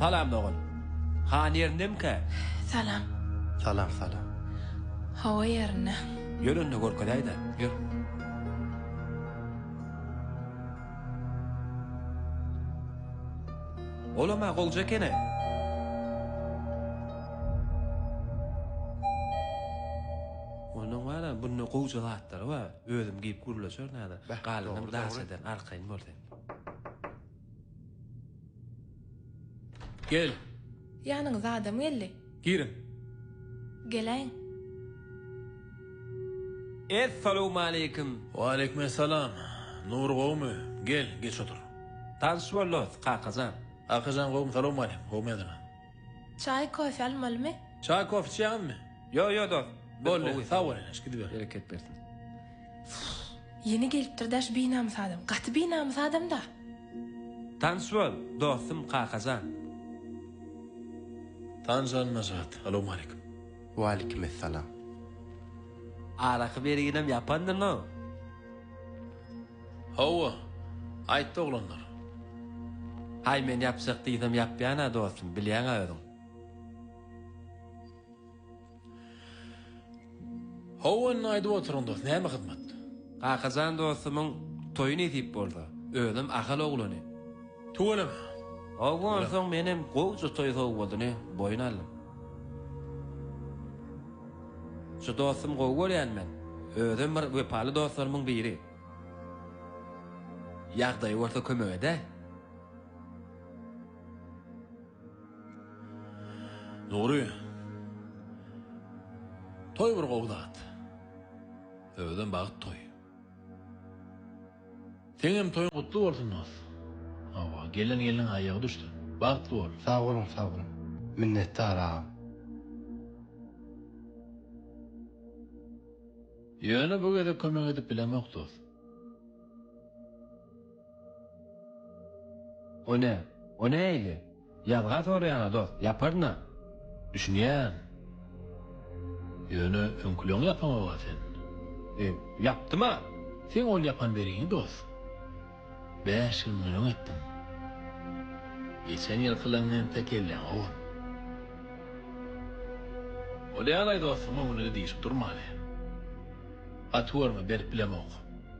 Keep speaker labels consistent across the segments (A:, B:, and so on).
A: Salam dogan. Han ýerindemikä? Salam. Salam salam. Hawa ýerinde. Ýör onda görkezäýdä. Ýör. Olam-a goljy ekeni. Ondan bar-a bunda gowja zatlary bar. Özüm giyip gürleşer nada. Galynyň daş eden arkaýyn bol sen. Gel. Ýanyňyza adam geldi. Giriň. Geläýiň. Essalowmaleýkim. Waleýkim essalam. Nury gowmy? Gel, geç otur. Tanyş boldys, Kakajan. Kakajan gowmy? Salowmaleýkim. Gowmy ýazyna? Çaý, kofe almalymy? Çaý, kofe içýäňizmi? Ýok, ýok dost. Boldy, sag bol ene, gidip ber. Bereket bersin. Ýene gelipdir daş binamys adam. Gaty binamys adamda. Tanyş bol, dostum Kakajan. Tanyş bol Najat. Alowmaleýkim. Waleýkimessalam. Araky berginem ýapandyr no. Hawa, aýtdy oglanlar. Haý, men ýapjak diýsem ýapýan-a, dostum, bilýäň-ä özüň. Hawa, indi aýdyp oturyň, dost, näme hyzmat? Kakajan dostumyň toýy nesip bolsa, özem Ahal oglany. Tüweleme! Howwa onsoň menem gowja toý sowgadyny boýun aldym. Şu dostum gowy görýän men. Özem bir wepaly dostlarymyň biri. Ýagdaýy bolsa kömek edäý. Nury. Toý bir gowy zat. Özem bagt toýy. Seňem toýuň gutly bolsun dos. Hawa, gelen gelniň aýagy düşsün. Bagtly bol. Sag boluň sag boluň. Minnetdar agam. Ýöne bu gezek kömek edip bilemok dos. O ne? O näýdi? Ýazga soraýana dost ýaparyn-a. Düşünýän. Ýöne öňküleň ýapamaga sen. E, ýapdym-a. Seň ol ýapan beriňi dost. Bäş gün günüň etdim. Geçen ýylkylaň entek gelýäň ogun. Bolýalaý dostum öňüne-de diýşip durmaly. Gaty görme berip bilemok.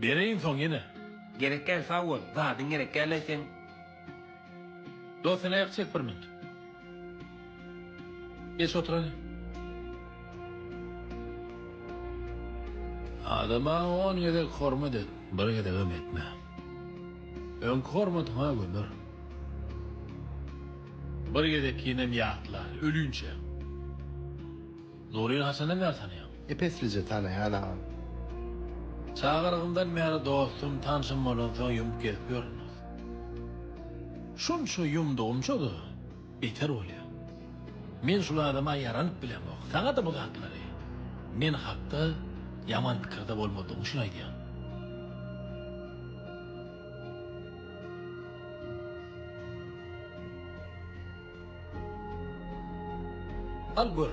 A: Bereýin soň ýene. Gerek däl sag bol. Zadyň gerek däl aýtsaň. Dos sen aýak çek bir minut. Geç otur hany. Adama on gezek hormat et, bir gezegem etme. Öňki hormatyňa gömür. Bir gezekkinem ýatla, ölünçe. Nuryny haçandan bäri tanaýaň? Epeslije tanaýan agam. Çagalygymdan bäri dostum, tanşym bolansoň ýumup gezip ýörüňiz. Şunça ýumdugymça-da beter bolýar. Men şul adama ýaranyp bilemok. Saňa-da bu zatlary men hakda ýaman pikirde bolmadygyň üçin aýdýan. Al gör.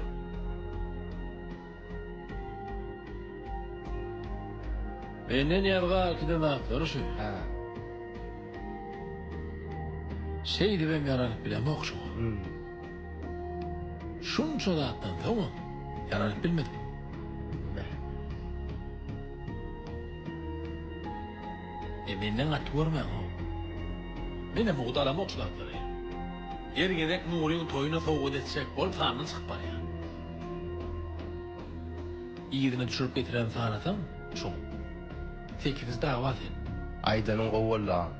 A: Menden ýazga kiden zatlary şu. Hä. Şeýdibem ýaranyp bilemok şu. Hum. Şunça zatdan soňam ýaranyp bilmedim. E menden gaty görmäňow. Menem ugt alamok şu zatlary. Her gezek Nuryň toýuna sowgat etjek bolup sandan çykyp barýar. Yzyna düşürip getiren sanasaň şoň. Sekiz dawa sen. Aýdanyň gowy boldy agam.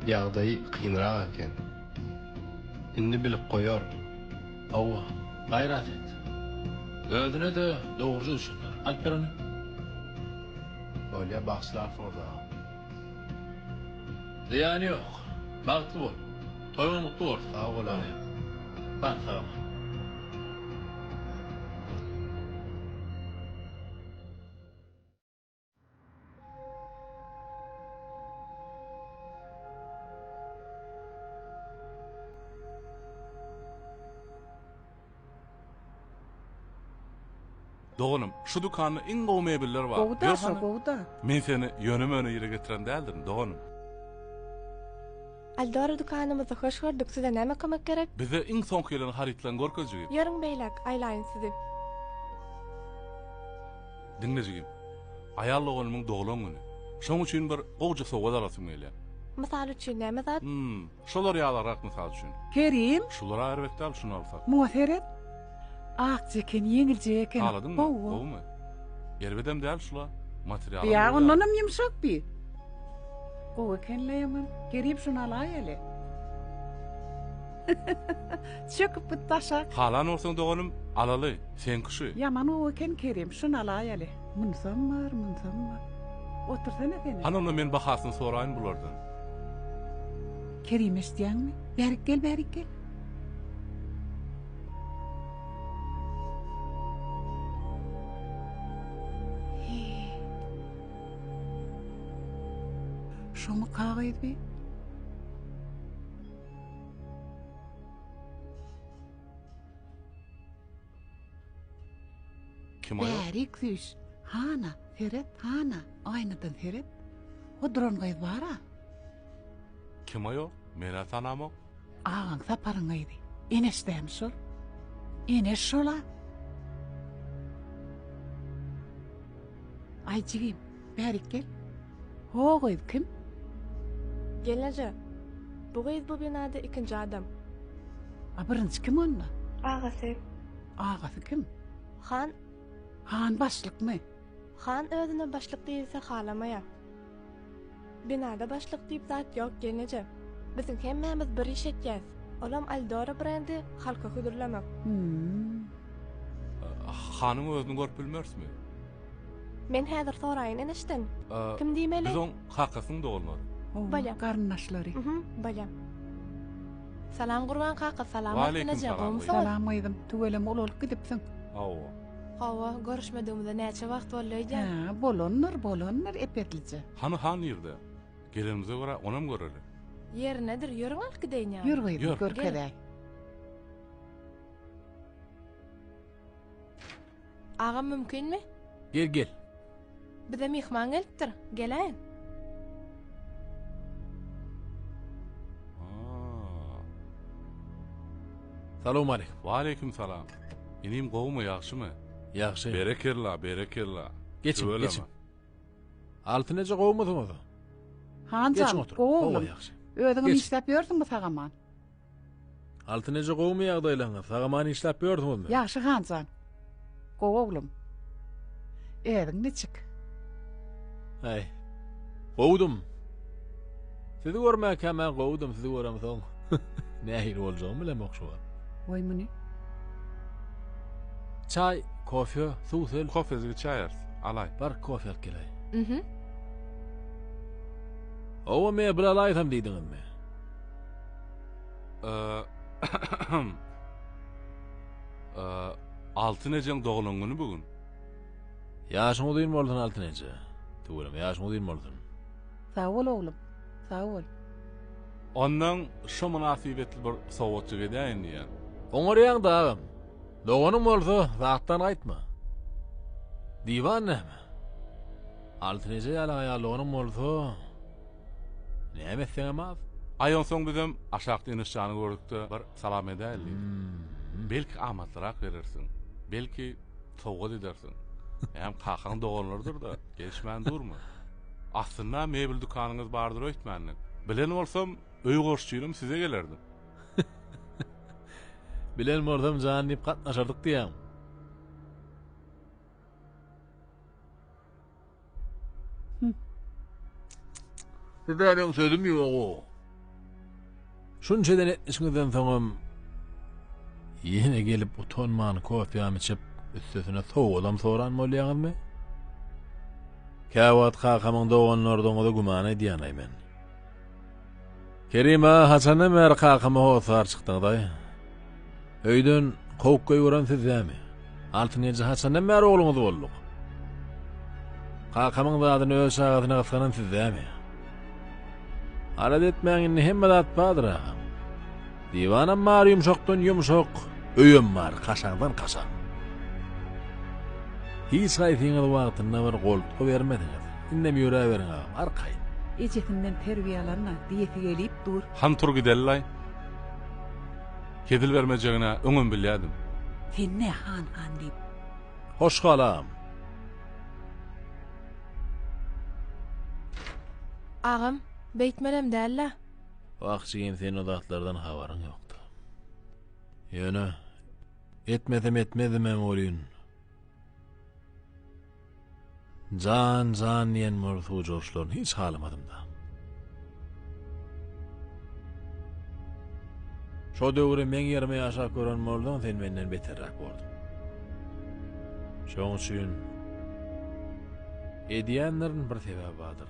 A: Ýagdaýy kynrak eken. Indi bilip goýar. Hawa, gaýrat et. Özüne-de dogruja düşündir. Alyp ber ony. Bolýa bagşylar soda. Zyýany ýok. Bagtly bol. Toýuň gutly bolsun. Sag bol agam. Bar sag. Doganym, şu dükanda iň gowy mebeller bar. Gowy da, şo gowy da. Men seni ýöne-möne ýere getiren däldirin, doganym. Eldor dükanymyzda hoş gördük, size näme kömek gerek? Bize iň soňky gelen harytlaryňy görkez jigim. Ýörüň beýläk, aýlaýyn sizi. Diňle jigim, aýal doganymyň doglan güni. Şoň üçin bir gowja sowgat alasym gelýär. Mysal üçin näme zat? Hum. Şolar ýalyrak mysal üçin. Kerim. Şulara erbet däl şuny alsak. Muňa seret. Akja eken ýeňiljek eken. Haladyňmy? Gowumy? Erbedem däl şula. Materialam. Ýa ondanam ýumşak bi. Gowy ekenle ýaman. Kerim şuny alaý hele. Çöküp git daşak. Halan bolsaň doganym alaly. Seňki şu. Ýaman gowy eken Kerim şuny alaý hele. Munsam bar, munsam bar. Otursana sen. Hany onda men bahasyny soraýyn bulardan. Kerim eşitýäňmi? Bärik gel, bärik gel. Şoňa kagyz bi. Kim aýol? Bärik süýş. Hana, seret, hana, aýnadan seret. O duran gyz bar-a. Kim aýol? Men-ä tanamok. Agaň Saparyň gyzy. Eneş dämi şol? Eneş şol-a. Aý jigim, Bärik gel. Ho gyz kim? Gelneje. Bu gyz bu binada ikinji adam. A birinji kim onda? Agasy. Agasy kim? Han. Han başlykmy? Han özüne başlyk diýilse halamaýar. Binada başlyk diýip zat ýok gelneje. Biziň hemmämiz bir iş etýäs. Olam Aldora brendi halka hödürlemek. Hanyň özüni görüp bilmerismi? Men häzir soraýyn enişden. Kim diýmeli? Biz oň kakasynyň doganlary. Bolýa. Garyndaşlary. Hum, bolýa. Salam Gurban kaka, salam Altynajy, gowmysyňyz? Salam gyzym, tüweleme ulalyp gidipsiň. Hawa. Hawa, görüşmedigimize näçe wagt boldy öýdýän? Hä, bolandyr, bolandyr, epetlije. Hany han nirde? Gelenimize görä onam göreli. Ýerinedir, ýörüň alyp gideýin ýaňy. Ýör gyzym, görkezeý. Agam mümkinmi? Gel, gel. Bize myhman gelipdir, geläýiň. Salowmaleýkim. Waleýkim salam. Inim gowumy, ýagşymy? Ýagşy. Berekella, berekella. Geçiň, geçiň. Altyn eje gowmysyňyz? Han jan, Geçiň oturyň. gowy oglum. ýagşy. Özüňem Geçiň. işläp ýörsüňmi sag-aman? Altyn eje gowmy ýagdaýlaryňyz? Sag-aman işläp ýörsüňizmi? Ýagşy han jan. Gowy oglum. Ädiň niçik? Äý. Gowdum. Sizi görmäkäm-ä gowdum, sizi göremsoň. Nähili boljagyny bilemok şu wagt. Goý muny. Çaý, kofe, suw sel. Kofesiz içäýeris. Alaý. Bar kofe alyp gelaý. Mhm. Owa mebel alaýsam diýdiňizmi? Eee, ahem. Eee, Altyn ejeň doglan güni bu gün. Ýaşyň uzyn bolsun Altyn eje. Tüweleme ýaşyň uzyn bolsun. Sag bol oglum. Sag bol. Ondan şo mynasybetli bir sowgatjyk edäýin diýýän. Oňarýaňda agam. Doganyň bolsa zatdan gaýtma. Diwan näme? Altyn eje ýaly aýal doganyň bolsa näme etseňem az. Aý onsoň bizem aşakda Enişjany gördükde bir salam edäýeli diýdim. Belki amatlyrak berersiň. Belki sowgat edersiň. Hem kakaň doganlarydyr-da, gelişmän durma. Aslynda mebel dükanyňyz bardyr öýtmändim. Bilen bolsam, öý goşçynym size gelerdim. Bilen bolsam jan diýip gatnaşardyk diýýäň. Size meniň sözüm ýog-ow. Şunça denetmişiňizden soňam ýene gelip utanman kofýam içip, üstesine sowgadam soran bolýaňyzmy? Käwagt kakamyň doganlardygyňyza güman edýänaý men. Kerim-a, haçandan bäri kakama hossar çykdyňyzaý? Öýden kowup goýberen sizdämi? Altyn eje haçandan bäri ogluňyz bolduk? Kakamyň zadyny öz çagasyna gysganan sizdämi? Alada etmäň indi hemme zat bardyr agam. Diwanam bar ýumşakdan ýumşak, öýem bar kaşaňdan kaşaň. Hiç haýsyňyz wagtynda bir goltgy bermediňiz. Indem ýöräberiň agam, arkaýyn. Ejesinden terbiýe alanna diýesi gelip dur. Han tur gidelilaý. Hezil bermejegin-ä öňem bilýädim. Sen ne han-han diýip. Hoş galam. Agam, beýtmelem däl-le. Wah jigim seň o zatlardan habaryň ýokda. Ýöne, etmesem etmezdim-ä welin. Jan, jan diýen bor suw joşlaryny hiç halamadym-da. Şo döwri meň ýerime ýaşap gören bolsaň, sen menden beterräk borduň. Şoň üçin edýänleriň bir sebäbi bardyr.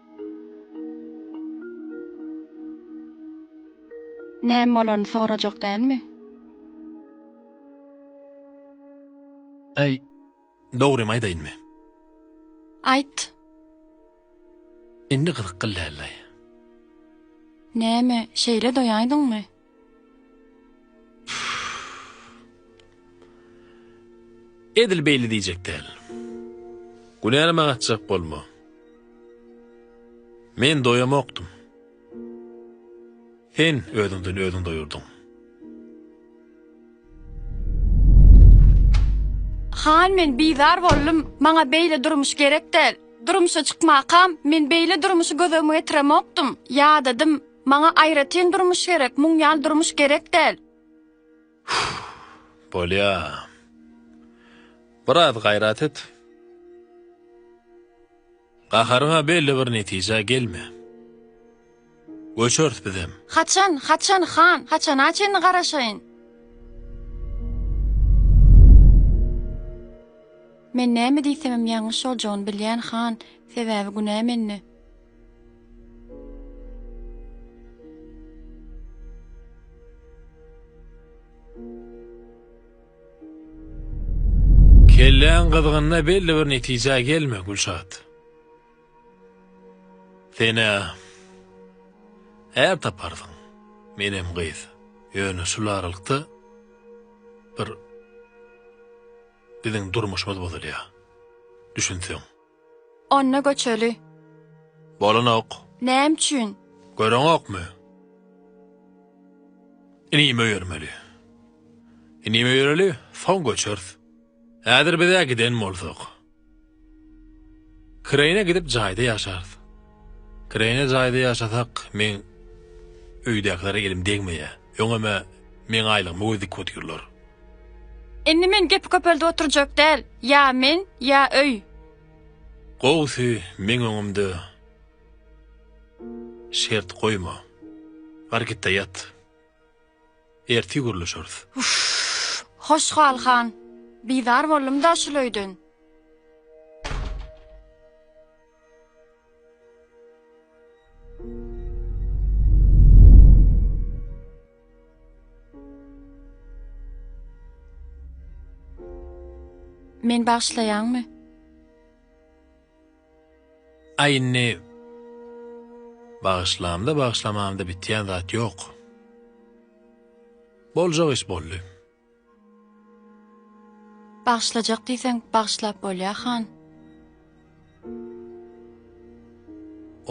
A: Näme bolany sorajak dälmi? Äý, dogrymy aýdaýynmy? Aýt! Indi gyzykly däldi-aý. Näme, şeýle doýaýdyňmy? Edil beýle diýjek däl. Günäleme gaçjak bolma. Men doýamokdym. Sen özüňden özüň doýurdyň. Han men bizar boldum, maňa beýle durmuş gerek däl. Durmuşa çykmakam, men beýle durmuşy gözegime getiremokdym. Ýadadym. Maňa aýratyn durmuş gerek, muň ýaly durmuş gerek däl. Hüww, bolýa. Biraz gaýrat et. Gaharyňa belli bir netijä gelme. Göçeris bizem. Haçan, haçan, han, haçana çenli garaşaýyn? Men näme diýsemem ýalňyş boljagyny bilýän, han, sebäbi günä mende. Kelläň gyzgynda belli bir netijä gelme, Gülşat. Sen-ä är taparsyň, menem gyz. Ýöne şul aralykda bir biziň durmuşymyz bozulýar. Düşünseň. Onda göçeli. Bolanok. Näme üçin? Göreňokmy? Inim öýermeli. Inim öýereli, soň göçeris. Häzir biz-ä giden bolsak. Kireýine gidip jaýda ýaşarys. Kireýne jaýda ýaşasak, meň öýdäkilere elim degmeýär. Öňem-ä meň aýlygymy göz dikip otyrlar. Indi men gepi köpeldip oturjak däl. Ýa men, ýa öý. Gowusy, meň öňümde şert goýma. Bar git-de ýat. Ertir gürleşeris. Uff! Hoşgal han, bizar boldum-da şul öýden. Men bagşlaýaňmy? Aý indi bagyşlamda-bagyşlamamda bitýän zat ýok. Boljak iş boldy. Bagyşlajak diýseň bagyşlap bolýa han.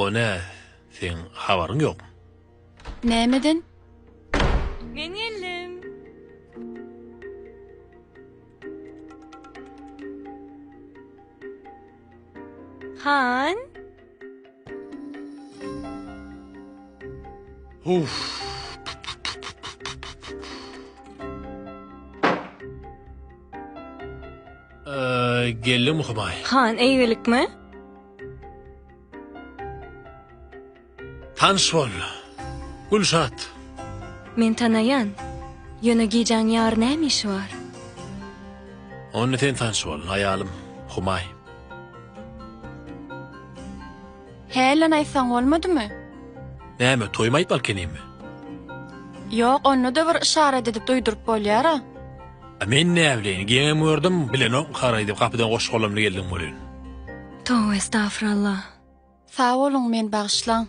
A: O nä? Seň habaryň ýokmy? Nämeden? Men geldim. Han. Huff. Geldim Humaý. Han, eýgilikmi? Tanyş bol, Gülşat! Men tanaýan. Ýöne gijäň ýar näme işi bar? Onda sen tanyş bol, aýalym, Humaý! Hä, lan aýtsaň bolmadymy? Näme, toýumy aýtmaly ekenimi? Ýok, onda-da bir yşarat edip duýduryp bolýar-a. A men näbileýin, geňem gördüm, bilenokmy haraý diýip gapydan goş golamly geldiň welin. Towe estafuralla. Sag boluň meni bagyşlaň.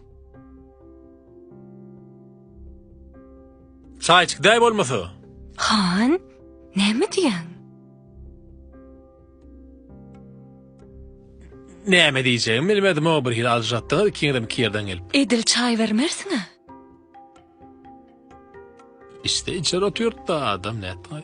A: Çaýçyk däý bolmasa. Han, näme diýýäň? Näme diýjegimi bilmedim o bir hili aljyratdyňyz ikiňizem iki ýerden gelip. Edil çaý bermersiň-ä. Iste içer otyrt da adam nätdi.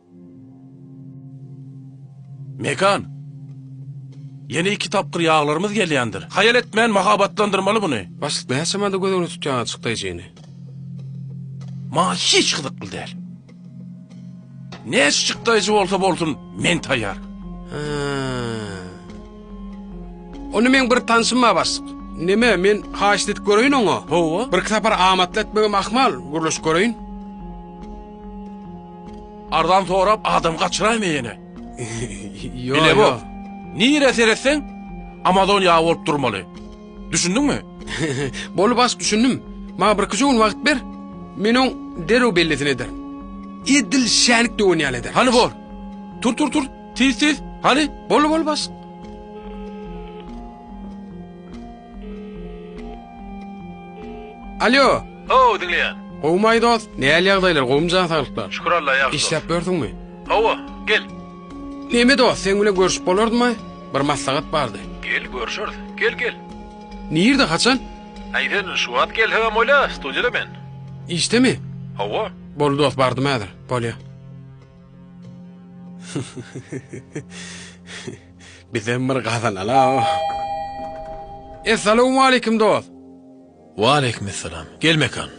A: Mekan! Ýene iki tapgyr ýaglarymyz gelýändir. Haýal etmän mahabatlandyrmaly muny. Başlyk näçemada göz öňüne tutýaň açyk daýjyny? Maňa hiç gyzykly däl. Näçjik daýjy bolsa bolsun, men taýýar. Hä. Onda meň bir tanşym bar, başlyk. Näme, men haýyşt edip göreýin oňa? Hawa. Birki sapar amatly etmegem ahmal, gürleşip göreýin. Arzan sorap adam gaçyraýma ýene. Ýok. Bile bok. Nire seretseň Amazon ýagy bolup durmaly. Düşündiňmi? Boldy baş düşündim. Maňa bir iki gün wagt ber. Men oň derrew bellisini ederin. Edil şänik döwen ýaly ederin. Hany bor. Tur tur tur. Tiz tiz. Hany? Boldy boldy baş. Alýo. Hawa, diňleýän. Gowumaý dost, nähili ýagdaýlar, gowumy jan saglyklar? Şükür Alla, ýagşy. Işläp ýörsüňmi? Hawa, gel. Näme dost, seň bilen görşüp bolardymy? Bir maslahat bardy. Gel, görşeris. Gel, gel. Nirde, haçan? Aý sen şu wagt gelsegem bolýa, studiýada men. Işdemi? Hawa. Boldy dost, bardym häzir. Bolýa. Bizem bir gazanala. Essalowmaleýkim dost. Waleýkimessalam. Gel Mekan.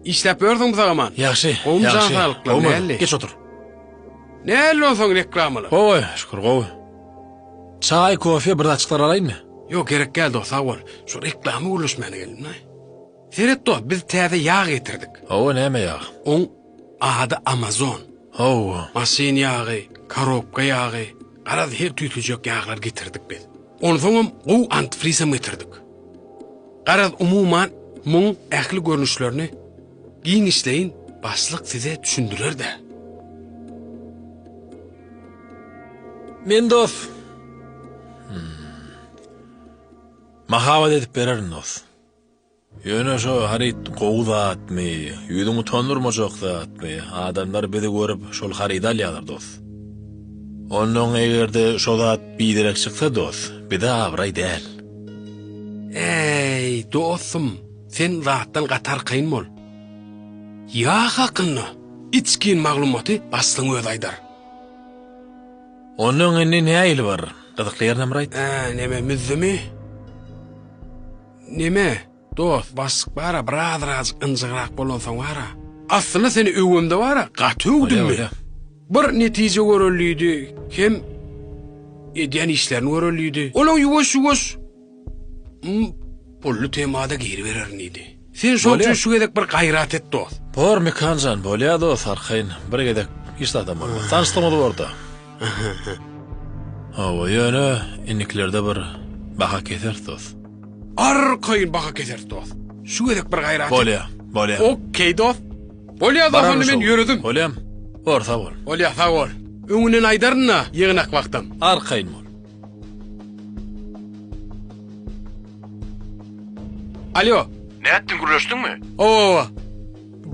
A: Işläp ýörsüň bisaman. Ýagşy. Gowmy jan saglyklary näli? Geç otur. Näli onsoň reklamalar? Gowy, şükür gowy. Çaý, kofe bir zatçyklar alaýynmy? Ýok gerek däl dost sag bol. Şu reklama gürleşmäne geldim-le. Seret dost biz täze ýag getirdik. Hawa näme ýag? Oň Ady Amazon. Hawa. Maşyn ýagy, korobka ýagy, garaz her tüýtüjek ýaglar getirdik biz. Onsoňam gowy antifrizem getirdik. Garaz umuman muň ähli görnüşlerini giňişleýin başlyk size düşündirer-dä. Men dos. Mahabat edip bererin dos. Ýöne şo haryt gowy zatmy, ýüzüň utandyrmajak zatmy, adamlar bizi görüp şol harydy alýarlar dos. Onnoň egerde şo zat biderek çyksa dos, bize abraý däl. Äý, dostum, sen zatdan gaty arkaýyn bol. Ýag hakynda içgin maglumaty başlygyň özi aýdar. Onnoň indi nähili bir gyzykly ýerini bir aýt. Hä, neme, müzümi? Neme, dost, başlyk bar-a, birazrajyk ynjygrak bolansoň bar-a. Aslynda seni öwemde bar-a, gaty öwdüm-mi? Bir netije görelidi, hem edýän işlerini görelidi. Olaň ýuwaş-ýuwaş m pully temada giribererin diýdi. Sen şoň üçin şu gezek bir gaýrat et, dost. Bor, Mekan jan, bolýa, dost, arkaýyn bir gezek hiç zadam bolmaz. Tanyşdygyňyz bor-da. Hawa ýöne inniklerde bir baha keseris dos. Arkaýyn baha keseris dos. Şu gezek bir gaýrat et. Bolýa, bolýa. Ok dos. Bolýa dos onda men ýöredim. Bolýam. Bor sag bol. Bolýa sag bol. Öňünden aýdaryn-da ýygnak wagtam. Arkaýyn bol. Alýo. Nätdiň gürleşdiňmi? Owa.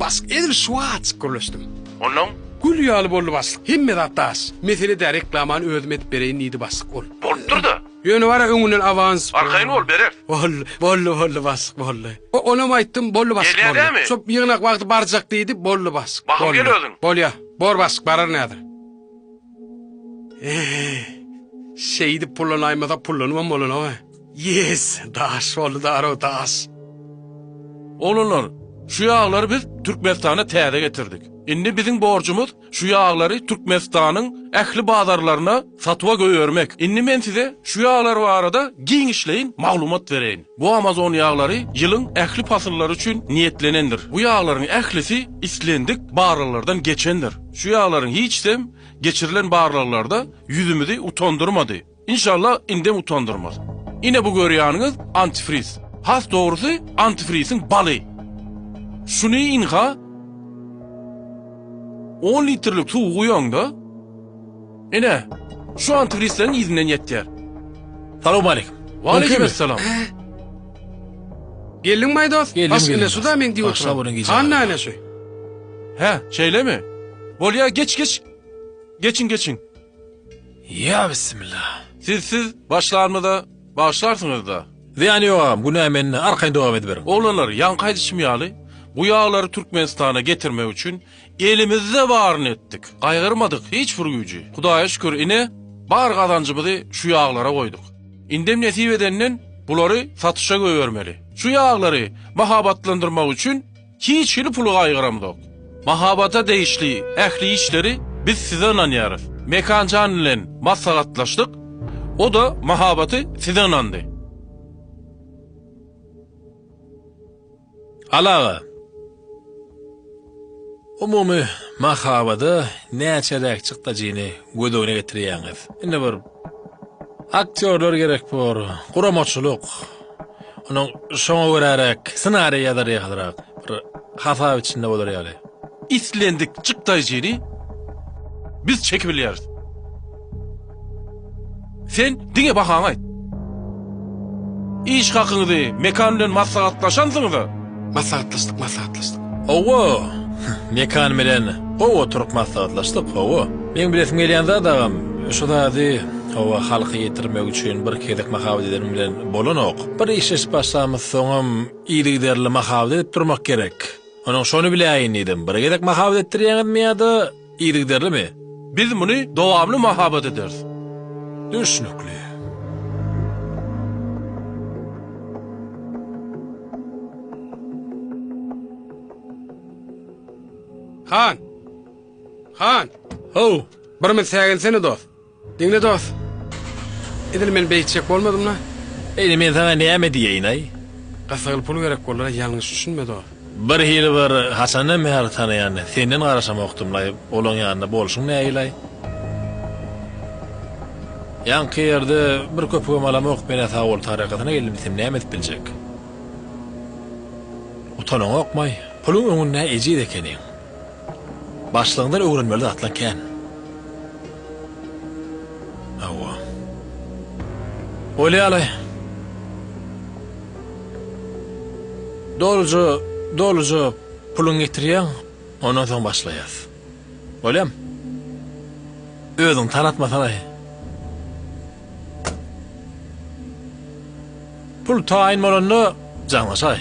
A: Başlyk, edil şu wagt gürleşdim. Onnoň? Gül ýaly boldy başlyk. Hemme zat daş. Mesele däl, reklamany özüm edip bereýin diýdi başlyk. Ol. Bolupdyr-da. Ýöne wara öňünden awans. Arkaýyn bol, bereris. Boldy, boldy, boldy başlyk, boldy. Onam aýtdym, boldy başlyk, boldy. Gelýär dämi? Şo ýygnak wagty barjak diýdi, boldy başlyk. Bahym gel özüň. Bolýa. Bor başlyk, bararyn häzir. Eý, şeýdip pullanaýmasa pullanybam bolana-oý. Ýes, daş boldy darow daş. Oglanlar, şu ýaglary biz Türkmenistana täze getirdik. Indi biziň borjumyz şu ýaglary Türkmenistanyň ähli bazarlaryna satuwa goýbermek. Indi men size şu ýaglar barada giňişleýin maglumat bereýin. Bu Amazon ýaglary ýylyň ähli pasyllary üçin niýetlenendir. Bu ýaglaryň ählisi islendik barlaglardan geçendir. Şu ýaglaryň hiçsem geçirilen barlaglarda ýüzümizi utandyrmady. Inşallah indem utandyrmaz. Ine bu görýäniňiz antifriz. Has dogrusy antifriziň baly. Şuny ynha on litrlik suw guýaňda ine şu antifrizleriň yzynden ýetýär. Salowmaleýkim. Waleýkim essalam. Geldiňmi-aý dost? Geldim, Baş geldim, ine şu-da dost. meň diýip Başga oturan. biriň gijä Hany galan. näme şu? Hä, şeýlemi? Bolýa, geç, geç. Geçiň, geçiň. Ýa bismilla. Siz siz başlarmyza bagyşlarsyňyzda. Zyýany ýok agam günä mende arkaýyn dowam ediberiň. Oglanlar ýaňky aýdyşym ýaly bu ýaglary Türkmenistana getirmek üçin elimizde baryny etdik gaýgyrmadyk hiç bir güýji Hudaýa şükür ine bar gazanjymyzy şu ýaglara goýduk indem nesip edenden bulary satyşa göbermeli şu ýaglary mahabatlandyrmak üçin Hiç hili puly gaýgyramzok. Mahabata degişli ähli işleri biz size ynanýarys. Mekanjan bilen maslahatlaşdyk, o-da Mahabaty size ynandy. Aly aga, umumy Mahabada näçeräk çykdajyny göz öňüne getirýäňiz? Indi bir Aktýorlar gerek bor, guramaçylyk. Onuň şoňa göräräk ssenariý ýazar ýalyrak, bir hasap içinde bolar ýaly. Islendik çykdaýjyny biz çekip bilýäris. Sen diňe bahaňy aýt. Iş hakyňyzy Mekan bilen maslahatlaşansyňyz-a? Maslahatlaşdyk, maslahatlaşdyk. Hawa, Mekan bilen gowy oturyp maslahatlaşdyk, hawa. Meň bilesim gelýän zat agam, şu zady, hawa, halka ýetirmek üçin bir gezek mahabat edenim bilen bolanok. Bir işleşip başlamyz soňam yzygiderli mahabat edip durmak gerek. Onuň şony biläýin diýdim. Bir gezek mahabat etdirýäňizmi ýa-da? Yzygiderlimi? Biz muny dowamly mahabat ederis. Düşnükli. Han! Han! How! Bir minut säginsene, dost. Diňle dost. Edil men beýtjek bolmadymla. Indi men saňa näme diýeýinaý? Gyssagly pul gerek boldyra ýalňyş düşünme dost. Bir hili bir haçanam Mähri tanaýan senden garaşamokdymlaý olaň ýanynda bolşuň näilaý? Ýaňky ýerde bir köpügem alamok menä Sawol tarakatyna geldim sen näme edip biljek? Utanaňokmaý? Puluň öňündä ejiz ekeniň. Başlygyňdan öwrenmeli zatlaň kän. Hawa. Bolýaly. Doluja, doluja puluňy getirýäň, ondan soň başlaýas. Bolýamy? Özüňi tanatmasaň-aý. Pul taýyn bolanda, jaňlaşaý.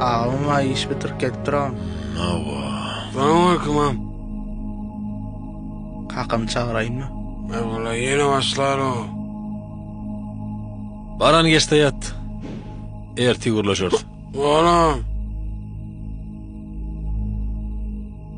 A: Agam aý iş bitirip gelip duram. Nawa. Salamaleýkum agam. Kakamy çagyraýynmy? Merwala ýene başlar o. Baran geçde ýat. Ertir gürleşeris. Bor agam.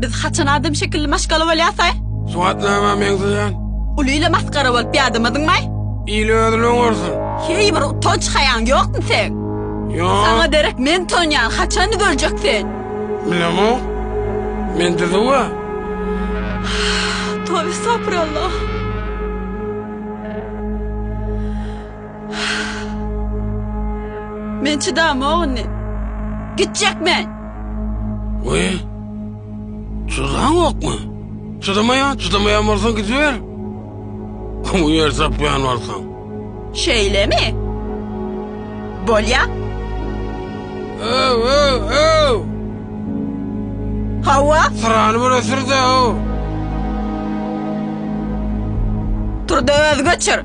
A: Biz haçan adam şekilli maşgala bolýasaý? Sugatnama meňzeýän. Uly ile masgara bolup ýadamadyňmaý? Il özüni oňarsyn. Heý bir utanç haýaň ýokmy seň? Ýok. Saňa derek men tonýan haçan görecek sen? Bilemok. Men düzüwa. Tobe sapyrallah. Men çydamok indi. Gitjek men. Oý. Çydaňokmy? Çydamaýa, çydamaýa bolsaň gidiber. Bu ýer tapýan bolsaň. Şeýlemi? Bolýa. Öw, öw, öw. Hawa. Syrany bir ösür-de, öw. Turda özgeçir.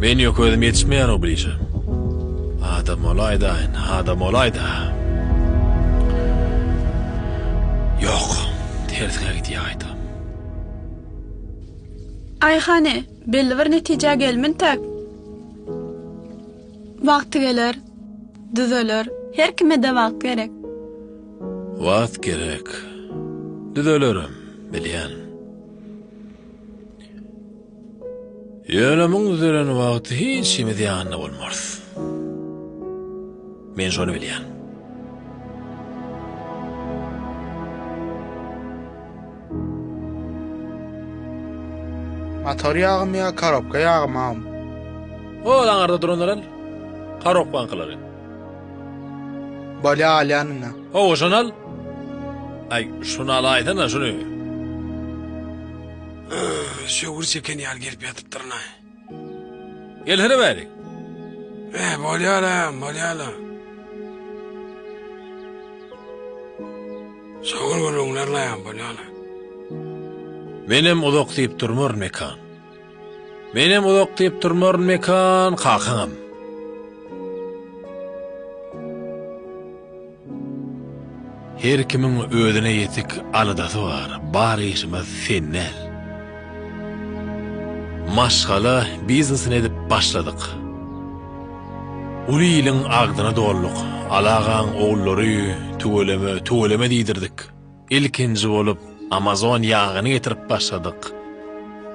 A: Men ýok özüm ýetişmeýär o blije. Adam bolaýdaýyn, adam bolaýda. Ýok, tersiňe gidýaýda. Aý hany, belli bir netijä gelmintäk. Wagty geler, düzeler. Her kime-de wagt gerek. Wagt gerek. Düzelerim, bilýän. Ýöne muň düzelen wagty hiç kimiz ýanynda bolmarys. Men şony bilýän. Motor ýagym ýa korobka ýagymam? Ol aňarda duranlar el. Korobkaňkylary. Bale alýanyňa. Hawa, şony al. Aý, şuny alaýsana, şuny. Şöwür çeken ýaly gelip ýatypdyryn-a. Gelsene bäri. He, bolýar-a, bolýar-a. Şoňur gürrüňlerine-ä bolýar-a. Menem uzak diýip durmaryn, Mekan. Menem uzak diýip durmaryn Mekan kakaňam. Her kimiň özüne ýetik aladasy bar, bar işimiz sen däl. Maşgala biznesini edip başladyk. Uly iliň agzyny dolduk, Alagaň ogullary tüweleme, tüweleme diýdirdik. Ilkinji bolup Amazon ýagyny getirip başladyk.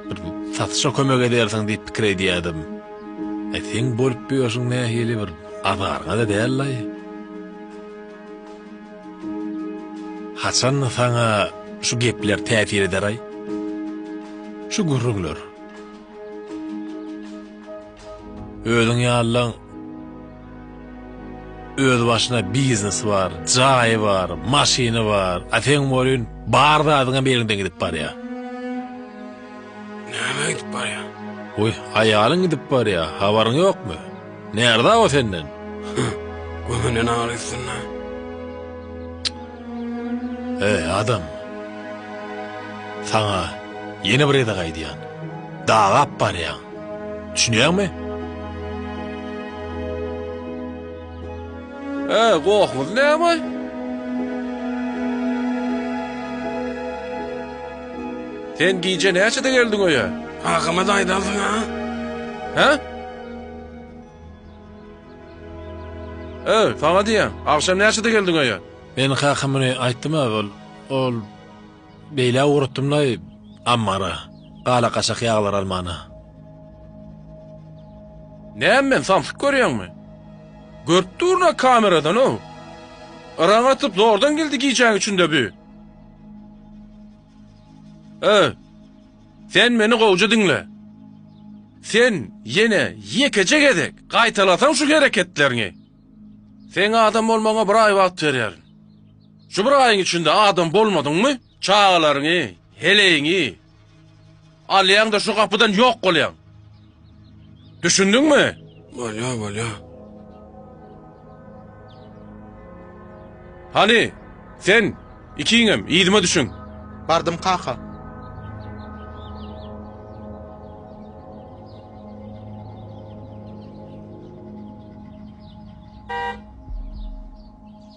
A: Bir satyşa kömek edersiň diýip pikir edýädim. E seň bolup ýörşüň nähili bir azaryňa-da dällaý. Haçan saňa şu gepler täsir ederaý? Şu gürrüňler. Özüň ýalylaň öz başyna biznesi bar, jaýy bar, maşyny bar, a seň bolýun bar zadyňam eliňden gidip barýa. Näme gidip barýa? Goý, aýalyň gidip barýa, habaryň ýokmy? Närza o senden? Hüh, gömünden agyr üstünde. Eý, adam! Saňa ýene bir gezek aýdýan. Dagap barýaň. Düşünýäňmi? Ä, gohumyz näme? Sen gije näçede geldiň öýe? Hakymy-da aýdarsyň, a? Hä? Ä, saňa diýýän, agşam näçede geldiň öýe? Men hakymy aýtdym-ä, ol, ol, Beýle ugratdym-laý ammara, gala-gaçak ýaglar almana. Näme men, samsyk görýäňmi? Görüp durun-a kameradan-ow. Yraň atyp zordan geldi gijäň içinde bü. Ö, sen meni gowja diňle. Sen ýene ýekeje gezek gaýtalasaň şu hereketleriňi, seň adam bolmagyňa bir aý wagt berýärin. Şu bir aýyň içinde adam bolmadyňmy, çagalaryňy, heleýiňi alýaň-da şu gapydan ýok bolýaň. Düşündiňmi? Bolýar, bolýar. Hany, sen, ikiňem, yzyma düşüň. Bardym kaka.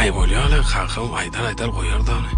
A: Aý bolýala kakam aýdar aýdar goýar dany.